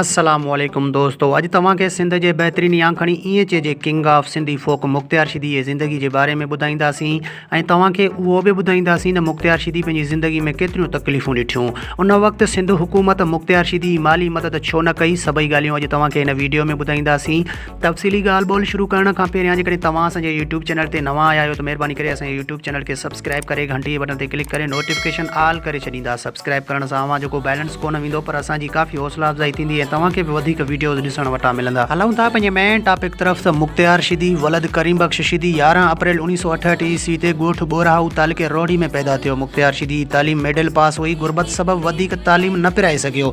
السلام عليڪم دوستو اڄ توهان کي سنڌ جي بهترين يا کڻي ائين چئجي king of Sindhi folk Mukhtiar Sheedi جي زندگي جي باري ۾ ٻڌائينداسين ۽ توهان کي اهو به ٻڌائينداسين ته مختيار شيدي پنهنجي زندگي ۾ ڪيتريون تڪليفون ڏٺيون ان وقت سنڌ حڪومت مختيار شيدي جي مالي مدد ڇو نه ڪئي سڀئي ڳالهيون اڄ توهان کي هن ويڊيو ۾ ٻڌائينداسين تفصيلي ڳالهه ٻولهه شروع ڪرڻ کان پهريان جيڪڏهن توهان اسان جي يوٽيوب چينل تي نوان آيا آهيو ته مهرباني ڪري اسان جي يوٽيوب چينل کي سبسڪرائب ڪري گهنٽي جي بٽڻ تي ڪلڪ ڪري نوٽيفڪيشن آل ڪري ڇڏيندا سبسڪرائب ڪرڻ سان اوهان جو ڪو بيلنس ڪونه ويندو پر اسان جي ڪافي حوصلا افزائي ٿيندي ۽ توهان کي به وڌيڪ وڊيوز ڏسڻ وٽان ملندا. هلون ٿا پنهنجي مين ٽاپڪ طرف ته مختيار شيدي ولد ڪريم بخش شيدي يارهن اپريل اوڻيهه سؤ اٺهٺ عيسوي تي ڳوٺ ٻورهائو تعلقي روهڙي ۾ پيدا ٿيو مختيار شيدي جي تعليم مڊل پاس هئي غربت سبب وڌيڪ تعليم نه پرائي سگهيو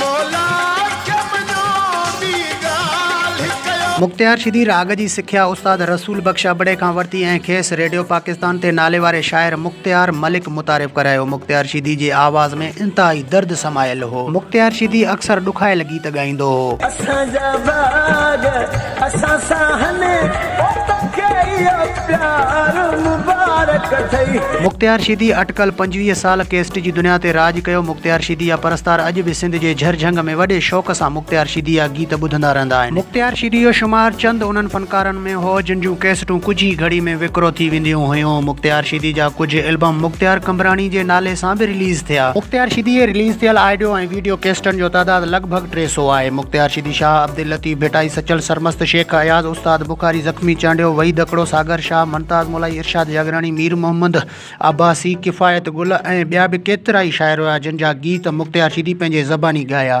مولا کي مڃو ٻي ڳالهه ڪيو. مختيار شيدي راڳ جي سکيا استاد رسول بخش ابڙي کان ورتي ۽ کيس ريڊيو پاڪستان تي ناليواري شاعر مختيار ملڪ متعارف ڪرايو. مختيار شيدي جي آواز ۾ انتهائي درد سمايل هو. مختيار شيدي اڪثر ڏکايل گيت ڳائيندو هو. اسان جا باغ اسان سان هن اوت کي اهو پيار مبارڪ اٿئي. مختيار شيدي اٽڪل پنجويهه سال ڪيسٽ جي دنيا تي راڄ ڪيو، مختيار شيدي جا پرستار اڄ به سنڌ جي جھر جھنگ ۾ وڏي شوق سان مختيار شيدي جا گيت ٻڌندا رهندا آهن. مختيار شيدي جو شمار چند انهن فنڪارن ۾ هو جن جون ڪيسٽون ڪجهه ئي گهڙي ۾ وڪرو ٿي وينديون هيون. مختيار شيدي جا ڪجهه البم مختيار قمبراڻي جي نالي سان به رليز ٿيا. مختيار شيدي جي رليز ٿيل آئڊيو ۽ ويڊيو ڪيسٽن جو تعداد لڳ ڀڳ ٽي سؤ آهي. مختيار شيدي شاهه عبداللطيف ڀٽائي سچل سرمست شيخ اياز، استاد بخاري زخمي، چانڊيو، وحيد ھڪڙو، ساگر شاھ، ممتاز مولائي، ارشاد جاگراڻي، مير محمد عباسي، ڪفايت گل ۽ ٻيا به ڪيترائي شاعر ھيا جن جا گيت مختيار شيدي پنھنجي زباني ڳايا.